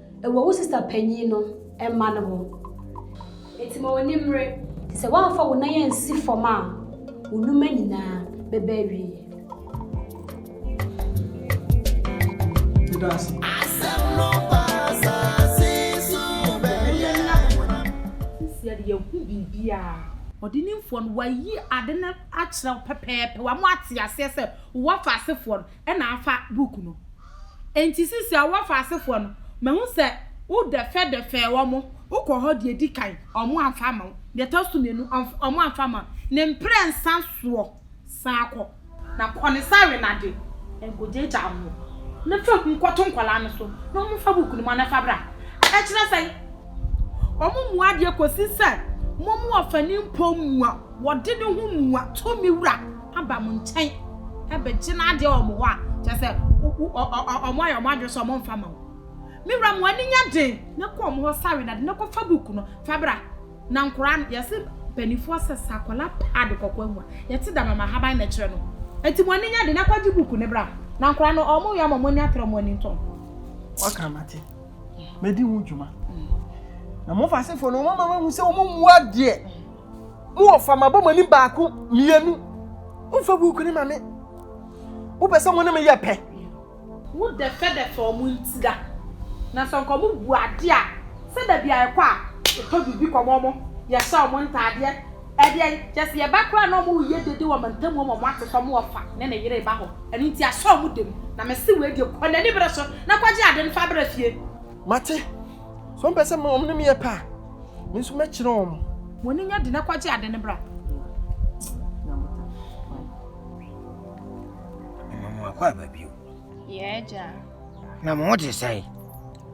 Wɔ wo sista panyin no mma no ho. Enti ma w'ani mmere. Sɛ woamfa wo nan ansi fam a, wo nnwuma nyinaa bɛba awiei. Meda ase. Asɛm no ba asase so bɛyɛ. Ɛno na yɛn ani abere. Seesei de, yɛahu biribiara. Ɔdenimfoɔ no, wayi ade no akyerɛ wo pɛpɛɛpɛ, wama woate aseɛ sɛ wowɔ afa asefoɔ no na afa buku no. Enti sisi a wɔafa asefoɔ no, mahu sɛ wodɛfɛdɛfɛɛ wɔn, wokɔɔ hɔ deɛ ɛdi kan, wɔamfa amma wo, deɛ ɛtɔ so mmienu, wɔamfa amma wo, ne mprɛnsa soɔ, san kɔ, na kɔ ne sawe no ade, na nkɔgyaagyaa ho, na fa hu kɔto nkwadaa no so, na wɔmfa buku no mma na fa bra. Ɛkyerɛ sɛn? Wɔmmua adeɛ kɔsi sɛ mommua ɔfani mpo mmua. Wɔde ne ho mua tumi wura aba mo nkyɛn bɛgye n'adeɛ wɔ mo hɔ a, kyerɛ sɛ wɔayɛ wɔn adwene sɛ wɔmfa mma wo. Me wura, mo ani nyɛ den na kɔ wɔn hɔ sawe na de no kɔfa book no fa bra. Na nkwadaa no, yɛse mpanimfoɔ sɛ sɛ akwadaa pa ade kɔkɔɔ amu a, yɛte dam ama ahaban na ɛkyerɛ no. Enti mo ani nyɛ den na kɔgye book no bra. Na nkwadaa no, wɔn yam a wɔn ani atrɛ, wɔn ani ntɔ wɔn. Woaka mate. Mɛdi ho dwuma. Na mo Fasefoɔ no, wɔama mahu sɛ wɔmmua adeɛ. Mo wɔfa, mabɔ mo ani baako mmienu. Womfa buuku no ma me. Wopɛ sɛ mo ne me yɛ pɛ. Wodɛfɛdɛfɛ wɔn ntira. Na sɛ nka wɔbu adeɛ a, sɛ da bi a yɛkɔ a, yɛtɔ biribi kɔma wɔn, yɛhyɛ wɔn ntaadeɛ. Ɛdeɛn, kyerɛ sɛ yɛba koraa a na wɔreyɛ dede wɔ amantam hɔ ma wɔate sɛ wɔn wɔfa ne ne yere reba hɔ. Ɛno nti ahyɛ wɔn dam. Na mese wei deɛ, kɔ n'anibere so na kɔgye adeɛ no fa bra fie. Mate, Sɛ wɔn pɛ sɛ wɔn ne me yɛ pɛ a, me nso mɛkyerɛ wɔn. Wɔn ani nya de na kɔgye ade no bra. Mama mo akɔ aba bio. Yɛ agya. Na mo ho te sɛn?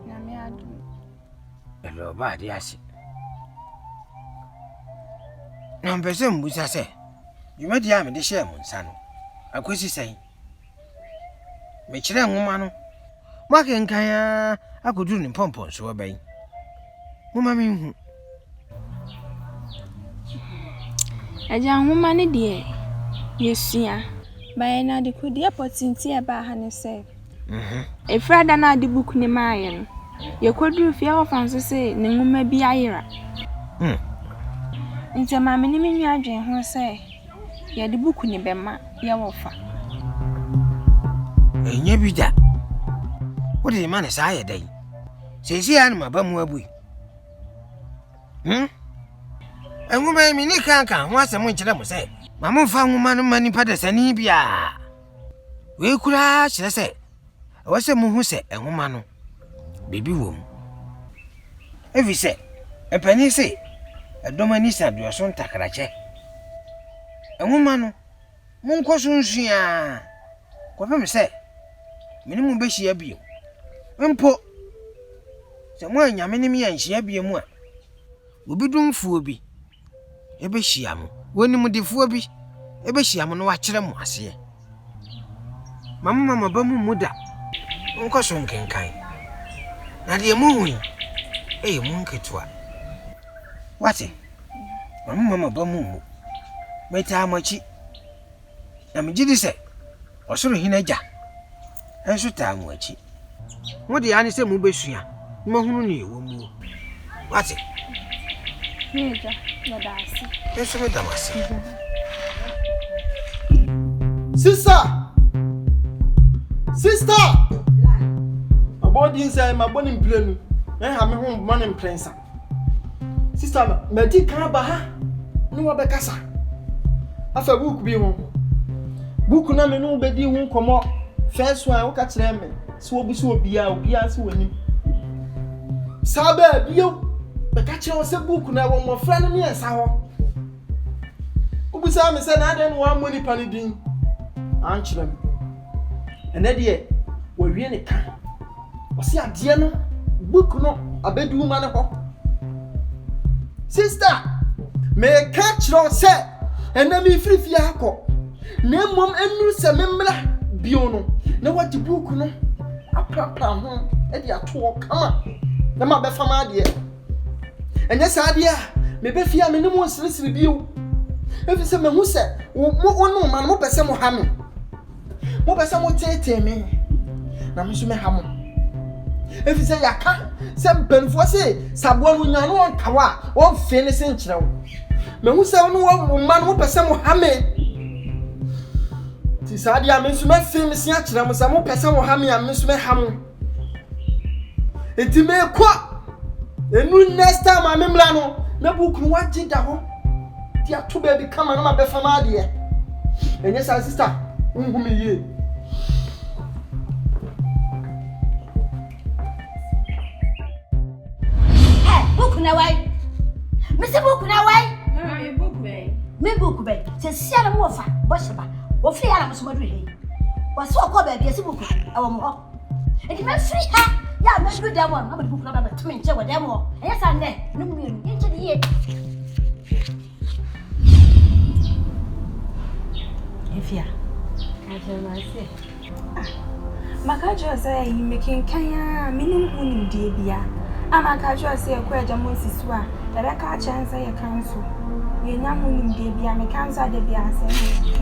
Na me ado. Ɛlɛ ɔba ade ase. Na mpɛ sɛ mbusa sɛ dwumadi a mede hyɛɛ mo nsa no akosi sɛn? Mekyerɛɛ nwoma no ma akenkan ara akoduru ne mpɔmpɔnsoɔ bɛn? Momma menhu. Agya, nwoma no deɛ yɛsua. Baeɛ no, adekodeɛ pɔtee nti a ɛbaa ha ne sɛ. Mhm. Ɛfiri ada no a ɔde buku no maeɛ no, yɛkɔduruu fie a wɔfa no so sɛ ne nwoma bi ayera. Hmm. Nti ɛmaa me ne me nua dwenee ho sɛ Yɛde buku no bɛma yɛ wɔfa. Ɛnyɛ bi da. Wode de ma no saa yɛ dɛn? Seesei ara na maba mu abue. Hmm? Nwoma yi mene kan ka ho asɛm nkyerɛ mo sɛ ma momfa nwoma no mma nipa dasani biara. Wei koraa kyerɛ sɛ Ɛwɔ sɛ muhu sɛ nhoma no, biribi wom. Efisɛ mpanyin se, Ɛdɔm ani sa deɛ ɔso ntakrakyɛ. Nhoma no, monkɔ so nsua ara kɔpem sɛ me ne mo behyia bio. Mpo sɛ moannya me ne me anhyia bio a, obi domfoɔ bi, bɛhyia mo. Onimdefoɔ bi bɛhyia mo na wakyerɛ mo aseɛ. Ma mo mama ba mu mmu da. Monkɔ so nkenkan. Na deɛ mohu yi, ɛyɛ mu nketewa. Wate? Ma mo mama ba mu mmu. Metaa mo akyi. Na megye di sɛ Ɔsoro Hene Agya nso taa mo akyi. Mo deɛ ara ne sɛ mobɛsua na moahunu nea ɛwɔ muo. Moate? Me Agya, meda ase. Me nso meda mo ase. Sister! Sister! Mabɔ din sɛ mabɔ ne mprenu, mɛha me ho mmɔ ne mprɛnsa. sista no madi kan ba ha ne wɔbɛkasa afa buuku bi ho buuku na me ne wo bɛdi ho nkɔmmɔ first one woka kyerɛ me sɛ wobu sɛ obiaa obiaa sɛ wɔnim saa bɛɛ bio bɛka kyerɛ wo sɛ buuku na ɛwɔ mmɔfra no mmiɛnsa hɔ wobusaa me sɛ na adɛn na wɔammɔ nipa no din ankyerɛ m ɛnɛ deɛ wɔwie ne ka Ɔse adeɛ no book no abɛduru ma no hɔ. Sister, meka kyerɛ wo sɛ ɛnɛ mefiri fie akɔ na mmom ɛnuru sɛ memmra bio no na wagye book no aprapra ho de ato hɔ kama na mabɛfa m'adeɛ. Ɛnyɛ saa deɛ a mebɛ fie a me ne mo nseresere bio ɛfiri sɛ mahu sɛ wo ne wo man mopɛ sɛ moha me. Mopɛ sɛ moteetee me, na me nso mɛha mo. Efisɛ yɛaka sɛ mpanimfoɔ se, sɛ aboa no nya no ɔntaw a, wɔmfee ne se nkyerɛ wo. Mahu sɛ wo ne wo mma no mopɛ sɛ moha me. Nti saa deɛ a, me nso mɛfee me se akyerɛ mo sɛ mopɛ sɛ moha me a, me nso mɛha mo. nti mekɔ ɛnu next time a memla no na book no wagye da hɔ de ato baabi kama na mabɛfa ma adeɛ ɛnyɛ saa sista wohu me yie Ɛ book na wai. Mese book na wai. Mami book bɛn. Me book bɛn. Sɛ sia na mo fa bɔ hyɛ ba. Wɔ firi ara mo so maduru hei. Wɔ so ɔkɔ baabi ɛsi book ɛwɔ mo hɔ. Enti mɛ firi ha ya mɛ duru dɛm wɔn. Mɛ book na bɛ bɛ tumi nkyɛ wɔ dɛm wɔ. Ɛyɛ saa nɛ. Ne mu yɛ no. Yɛ nkyɛ de yie. Efia. Akyɛ ma se. Ah. Maka kyerɛ sɛ yi mekenkan a menim ho nimdeɛ bia. A maka kyerɛ sɛ yɛkɔ agya mo si so a ɛbɛka akyerɛ sɛ yɛka nso. Yɛnya ho nimdeɛ bia meka nso ada bi asɛm.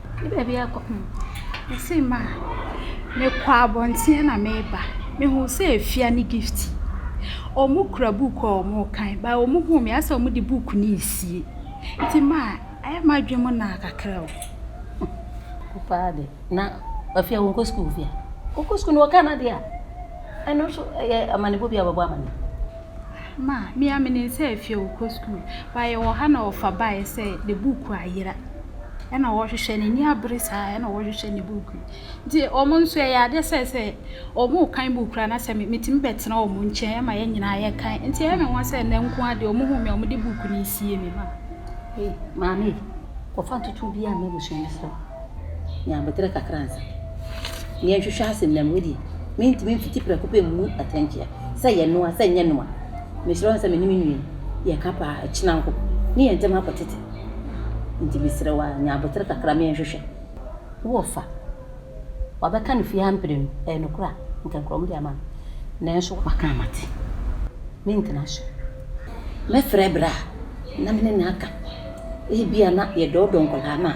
Me baabi a ɛrekɔ hmm. Ɔsee me a, mekɔ abɔnten na mereba. Mehuu sɛ Afia ne Gift, wɔkura book a wɔrekan. But wɔhuu me a, ayɛ sɛ wɔde book no resie. Nti ma, ayɛ a m'adwene mu naa kakra o. Wo paa de. Na Afia wonkɔ sukuu Afia? Wokɔ sukuu no wɔka no ade a, ɛno nso ɛyɛ amanebɔ bi a wɔbɛbɔ ama me. Ma, me a me ne nsa afiri a ɔkɔ sukuu Ba yɛwɔ ha na ɔfa baeɛ sɛ ne buuku ayera Ɛna ɔhwehwɛ n'ani abere saa ɛna ɔhwehwɛ ne buuku Nti wɔn nso ɛyɛ adeɛ sɛ sɛ wɔrekan buuku koraa na sɛ me metumi bɛtena wɔn nkyɛn ɛma yɛn nyinaa yɛkan Nti ɛyɛ me nwonwa sɛ nnɛ nko ara deɛ wɔhuu me a wɔde buuku no resie me Ma, ei, maame, kɔfa ntotoɔ biara ma abusua no sɛ. ne abotire kakra ansa. Nea nhwehwɛ ase nnam hɔ di. Mentumi mfiti prɛko pɛ mmu atɛnkyea. Sɛ ɛyɛ noa, sɛ ɛnyɛ noa. Mesrɛ wo sɛ me ne me nua yi yɛka paa a, kyena nko. Me yɛn ntam akɔ tete. Nti mesrɛ wo ara, nya abotire kakra ma yɛnhwehwɛ. Wo ɔfa, wabɛka no fie ha mprenu. Ɛyɛ nokorɛ a, anka nkura wɔn de ama me. Nanso waka a mate. Mentena so. Mɛfrɛ berɛ a na me ne no aka. Ebia na yɛdɔɔdɔɔ nkwadaa no a.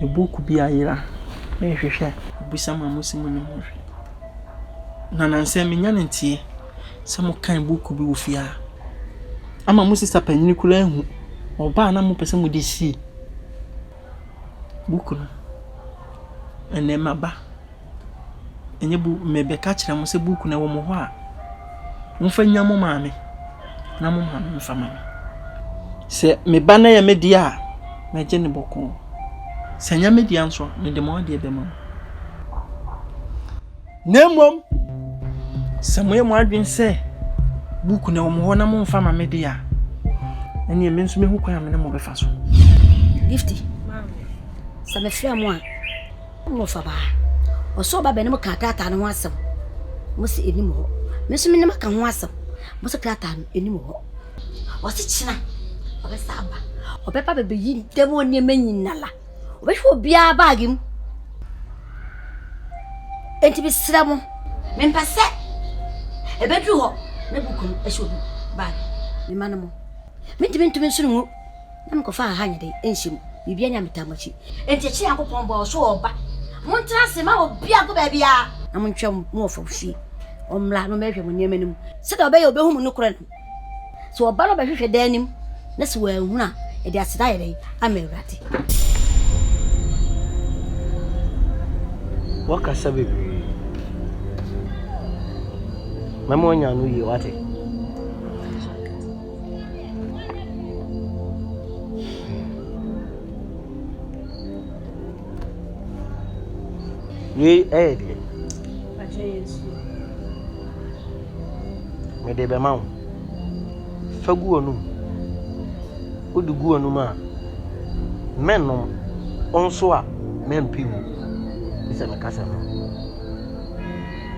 me book bi ayera merehwehwɛ abisa mu a mosi mu no mu hwɛ. Na nansɛ menya no nteɛ sɛ mokan book bi wɔ fie a ama mo sista panin koraa ahu ɔba a na mopɛ sɛ mode sie book no. Ɛnnɛ maba. Ɛnyɛ bu merebɛka akyerɛ mo sɛ buukuu no wɔ mo hɔ a, momfa nnya mo maame na mo maame mfa mma me. Sɛ me ba no yɛ me deɛ a, mɛgye no bɔkɔɔ. Sɛ ɛnyɛ me deɛ nso a, mede mo adeɛ bɛma mo. Na mmom, sɛ moyɛ mo adwene sɛ buukuu no wɔ mo hɔ na momfa mma me deɛ a, ɛnneɛ me nso mɛhu kwan a me ne mo bɛfa so. Gifty, sɛ mefrɛ mo a, Wo na ɔfa baa. Ɔsɔɔ ba bɛn no mo kaa krataa no ho asɛm. Mo se enim hɔ. Me nso me ne mo aka ho asɛm. Mo se krataa no enim hɔ. Ɔse kyena ɔbɛsa aba. Ɔbɛba bɛbɛyi dɛm wɔ nneɛma nyinala. Ɔbɛhwɛ obiara baage mu. Enti me srɛ mo, me mpɛ sɛ ɛbɛduru hɔ na buku no ɛhyɛ obi baage. Me ma no mo. Me ntumi ntumi nso ne ngu. na mekɔfaa Ahanya de nhyɛ mu. Biribiara nni ametaa mo akyi. Enti akyiri Nyankopɔn bɔɔ so ɔba. Montena ase mma obiara nkɔ baabiara. Na montwɛn mo wɔ fam fie. Ɔmmra na ɔmmɛhwehwɛ mo nneɛma no mu, sɛdeɛ ɔbɛyɛ a ɔbɛhu mo nokorɛ no. Sɛ ɔba na ɔbɛhwehwɛ dan no mu, na sɛ wanhunu a, yɛde aseda ayɛ dɛn ama Awurade? Wakasa bebree. Mɛma wanya no yie, wate? Wei ɛyɛ deɛ. Mede bɛma wo. Fa gu w'anum. Wode gu w'anum a, mɛnom. Wo nso a, mɛmpe mu. Te sɛ mekasa no.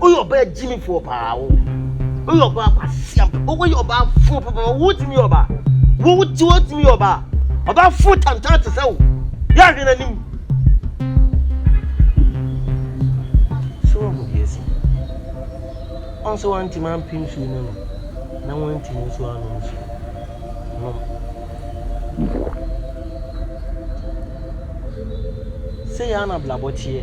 Woyɛ ɔbaa gyimifoɔ paa wo. Woyɛ ɔbaa kwasia paa. Woyɛ ɔbaa fo papa. Wotumi yɛ ɔbaa. Wote wotumi yɛ ɔbaa. Ɔbaa fo tantan te sɛ wo. Yɛ ahwɛ n'anim. So wɔn mu deɛ si. Wɔn so wɔn ntoma mpem nsuo no no. Na wɔn ntoma nsuo ano nsuo. No. Sɛ yɛ ara na abrabɔ teɛ.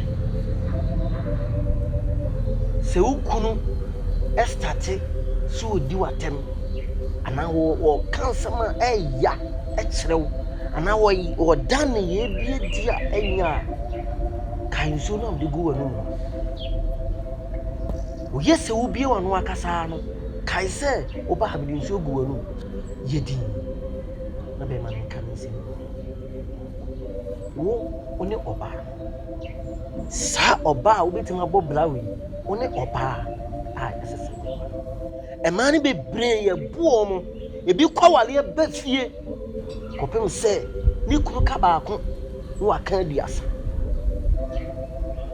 Sɛ wo kunu starte sɛ ɔredi wo atɛm anaa ɔka nsɛm a ɛya kyerɛ wo anaa ɔda nneyɛɛ bi adi a ɛnyɛ a, kae nsuo no a wode gu w'anom no. Ɔyɛ sɛ wobue w'ano ankasa ara no, kae sɛ wo ba mede nsuo agu w'anom. Yɛ dinn, na bɛmma no nka ne nsam nwie. Wo, wo ne ɔbaa no. Saa ɔbaa a wobɛtumi abɔ bra wei, wo ne ɔbaa a ɛsɛ sɛ woware no. Mmaa no bebree yɛbu wɔn, ebi kɔ awareɛ ba fie kɔpem sɛ ne kunu ka baako na waka aduasa.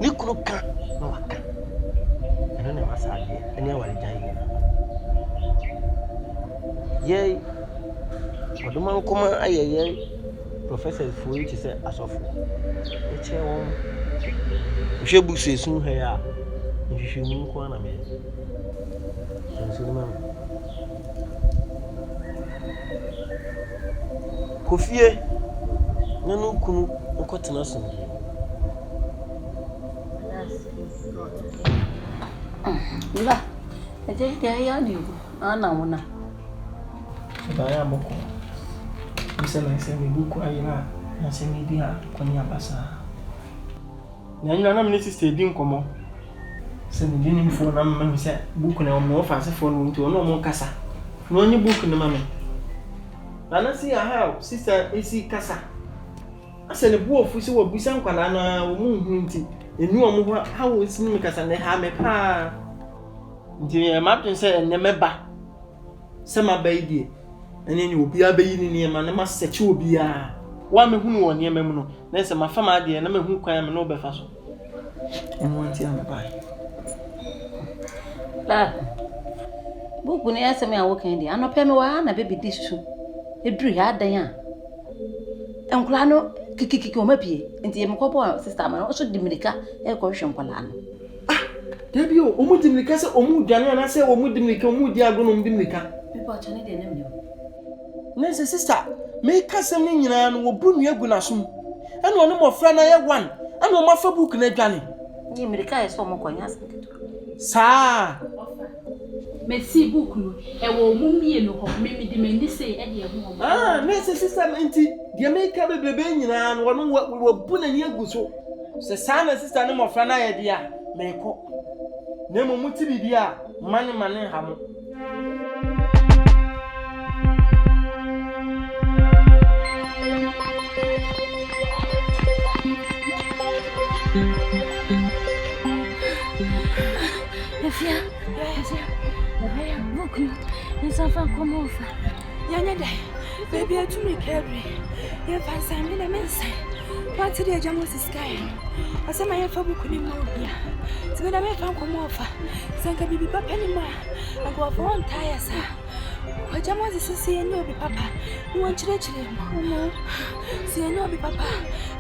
Ne kunu ka na waka. Ɛno na ɛma saa adeɛ ne awaregyaeɛ nyinaa ba. yɛn ɔdomankoma ayɛ yɛn professors foɔ yi te sɛ asɔfo. Mekyia wɔn. Mehwɛ books a ɛsi mu ha yi a, nhwehwɛmu nko ara na meyɛ. Hyɛ nsu no ma me. Kɔ fie na ne wo kunu nkɔtena asomdwoeɛ mu. That's his God. Mba, ɛdɛ deɛ ayɛ adeɛ o. Ana wo na. Ɛbaeɛ a mokɔ Ɛfiri sɛ na sɛ mebu kɔ ayɛ no a na sɛ medi a kɔ ne aba saa. Na ɛnyina na me ne sister redi nkɔmmɔ. Sɛ me di nim foɔ na me ma me sɛ book no ɔmo ɔfase foɔ no wɔ mu nti ɔne ɔmo nkasa na ɔnye book no ma me. Na na see aha a sister esi kasa asɛ ne bo afu sɛ wabisa nkwadaa no a ɔmo nhunu nti ɛnu ɔmo hɔ a how ɔsi ne me kasa na ɛhaa me paa. Nti meyɛɛ m'adwene sɛ ɛnnɛ mɛba. Sɛ maba yi deɛ, ɛneɛ neɛ obiara bɛyi ne nneɛma na masɛkye obiara. Wo a mɛhunu wo wɔ nneɛma mu no, na sɛ mafa m'adeɛ na mahu kwan a me ne wo bɛfa so. Ɛno ara nti a mebaeɛ. Ah, buku no asɛm a wokan deɛ, anɔpɛ me wɔ ha na bɛbi di su. Ɛduru ha adɛn a, nkwadaa no kikikiki wɔn apue. Nti mekɔbɔɔ sista ama no, ɔso de mmirika ɛrekɔhwehwɛ nkwadaa no. Ah, dabi o, wɔn di mirika sɛ wɔn dwane anaasɛ wɔn di mirika, wɔn di agorɔ na wɔn di mirika. Bipa ɔkyɛ ne deɛ ne mne o. Na sɛ sista, meka sɛm no nyinaa no, wɔbu nua gu n'asom. Ɛna ɔne mmɔfra no ayɛ one, ɛna wɔn afa book no adwane. Nye mirika yɛ sɛ wɔn kɔ, nyɛ asɛm ketewa. Saa. Mesi book no, ɛwɔ wɔn mmienu hɔ, me mede m'ani sei de ahu wɔn. Ah, n'asisisɛm nti, deɛ meka bebrebe nyinaa no, ɔno wa, wabu n'ani agu so. Sɛ saa na sista ne mmɔfra no ayɛ deɛ a, merekɔ. Na mmom mote biribi a, mma ne mma no nha mo. Efia, efia, ɛbɛyɛ buku no nsa fa kɔm ɔfa. Yɛnyɛ dɛ, baabi atumi kɛbre, yɛmfa nsan me na me nsan. Wante deɛ agya Moses kae no, ɔsɛ ma yɛmfa buku no mma obia. Nti me na memfa nkɔm ɔfa, sɛ nka biribi papa ni mu a, nkurɔfoɔ wɔntaa yɛ saa. Agya Moses sɛ yɛnyɛ obi papa, na wɔnkyerɛkyerɛ mu. Sɛ yɛnyɛ obi papa,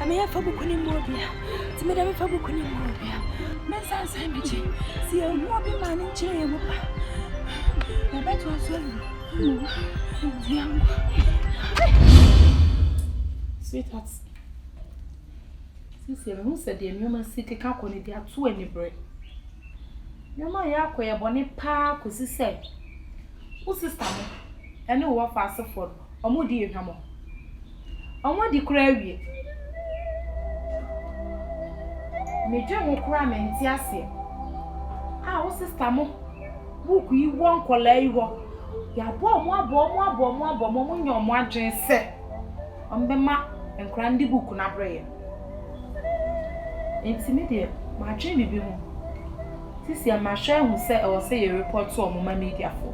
ɛma yɛmfa buku no mma obia. nti mede mefa buku ne mu ɔbea mensansan megye sɛ yɛhu obi ma ne nkyerɛ yɛ mu pa yɛbɛtoa so awuro nti yɛnkɔ sweetheart sisi mehu sɛ deɛ nneɛma si keka kɔ no de ato aniberɛ nneɛma yɛ akɔ yɛ bɔne paa kɔsi sɛ wo sista mo ɛne wo wɔfa asefoɔ no wɔdii hwammɔ. Wɔadi koraa awie. Medwen ho koraa mente aseɛ a wo sister mo book yi wɔ nkɔlaa yi hɔ. Yɛabɔ wɔn abɔ wɔn abɔ wɔn abɔ wɔn wɔn nyɛ wɔn adwene sɛ wɔn bɛma nkɔlaa no de book no abrɛ yɛn. Nti me deɛ madwen biribi ho. Sisi a mahwɛ ahu sɛ ɛwɔ sɛ yɛ report wɔn ma media foɔ.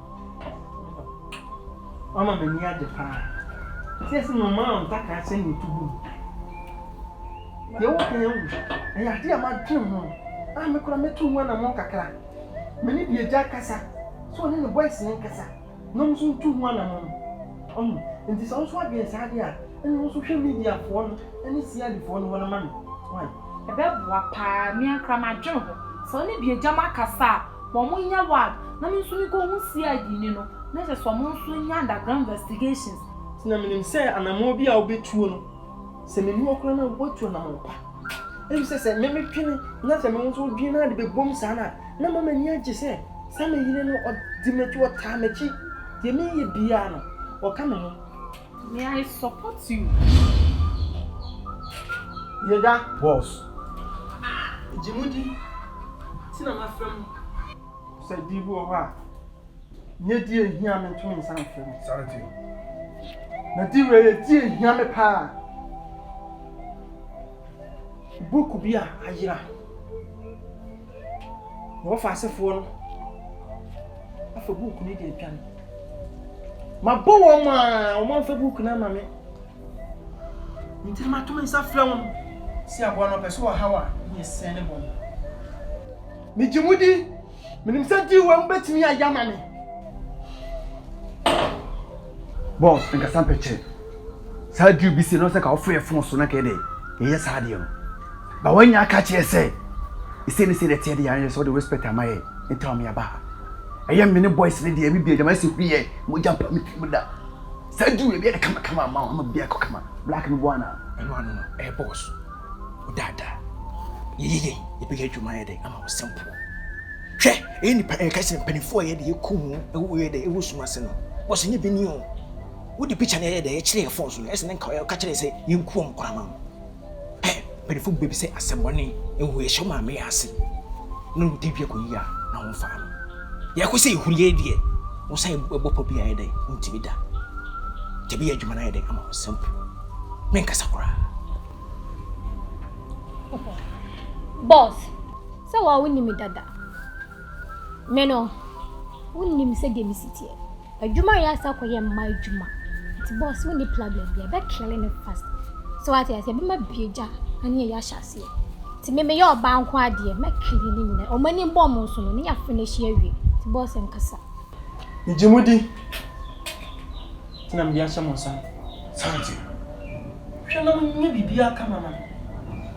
Wama m'ani agye paa. Sɛ sɛ nnomaa a ntakra hyɛ ne ntugu mu. Deɛ woka yɛ nwu. Ɛyɛ adeɛ a madwene ho a me koraa mɛtu ho anammɔn kakra. Me ne deɛ agya kasa. Sɛ ɔne ne boys no nkasa na wɔn nso ntu ho anammɔn. Ɔho, nti sɛ wo nso woadwene saa deɛ a, ɛne wo nso hwɛ mediafoɔ no ne CIDfoɔ no wɔn ma me. Wai? Ɛbɛboa paa. Me ara koraa madwene ho. Sɛ wo ne deɛ agya moakasa a, Wɔn mo nya ward na me nso me kɔ hu CID ni no na kyerɛ sɛ wɔn nso nya underground investigations. Nti na me nim sɛ anamɔn bi a wo bɛ tuo no sɛ me ni hɔ koraa na wa tu anamɔn pa efisɛ sɛ me me twene na sɛ me wo nso wo dwene na de bɛ bom saa no a na ma m'ani agye sɛ saa me yere no ɔdi m'akyi ɔtaa m'akyi deɛ me yɛ biaa no ɔka me ho. May I support you? Yɛda boss. Gye mu di ti na ma frɛ mu. Sɛ di bi wɔ hɔ a, nyɛ di ehia me ntumi nsa mfrɛ mu. Sare ti. Na di wei yɛ di ehia me paa. Book bi a ayera. na wɔfa asefoɔ no afa buuku no de adwane. Mabɔ wɔn a wɔamfa buuku no ama me. Nti na mato me nsa frɛ wɔn si aboa no ɔpɛ so wɔ haw a ne yɛ sɛn ne bɔn. Megye mu di, menim sɛ deal wɔ mu bɛtumi ayɛ ama me. Boss, nkasa mpɛkyerɛ. Saa deal bi si no sɛ ka wɔfrɛ fon so na kɛdɛ yɛyɛ saa deɛ no. Ba wɔn nyinaa ka kyerɛɛ sɛ, Ɛsei ne sei na ɛteɛ deɛ ayɛ sɛ ɔde respect ama yɛ nti a ɔmeaba ha. Ɛyɛ me ne boys ne deɛ ɛbi bia gyama ɛsɛ huriyɛ mogya pa me tirim da. Saa duru ɛbi ɛde kama kama ama ama bia ɛkɔ kama black no boa na. Ɛno ano no ɛyɛ boss wo daadaa yɛ yɛ yɛ yɛ bɛyɛ adwuma ayɛ dɛ ama wo simple. Hwɛ ɛyɛ nipa ɛka kyerɛ mpanimfoɔ a ɛyɛ dɛ yɛkɔ mu ɛwɔ yɛ dɛ ɛwɔ sum ase no boss ɛnyɛ bini o. Wode picture no ɛyɛ dɛ ɛkyerɛ yɛ phone so no ɛsɛ ne nka ɔka kyerɛ sɛ yɛnkuo ɔmo koraa ma wo. pɛ mpanyinfo bi bɛbisa asɛmmɔne ehu yɛhyɛ wɔn a meyɛ ase na wɔn tɛ dua kɔ yie a na wɔn fa no yɛkɔ sɛ ehu yɛ deɛ wɔn san ɛbɔ pɔ bi a yɛ dɛ wɔn ti bi da tɛ bi yɛ adwuma na yɛ dɛ ama wɔn nsɛm po me nkasa koraa. Boss, sɛ wɔn a wɔn nim dada. Me no, wonnim sɛdeɛ mesi teɛ. Adwuma a yɛasa akɔyɛ mma adwuma. Nti boss wonni problem biara, bɛ kele no fast. So wate aseɛ, bɛ ma bie gya aneɛ yɛ ahyɛ aseɛ. Nti me meyɛ ɔbaa nko adeɛ, mɛ kele ne nyina. Ɔmo ani bɔ ɔmo nso no, ne yɛ finish yɛ wie. Nti boss nkasa. Me gye mo di, nti na mede ahyɛ mo nsa no. Santi, hwɛ na mo nyɛ biribiara kama ma me.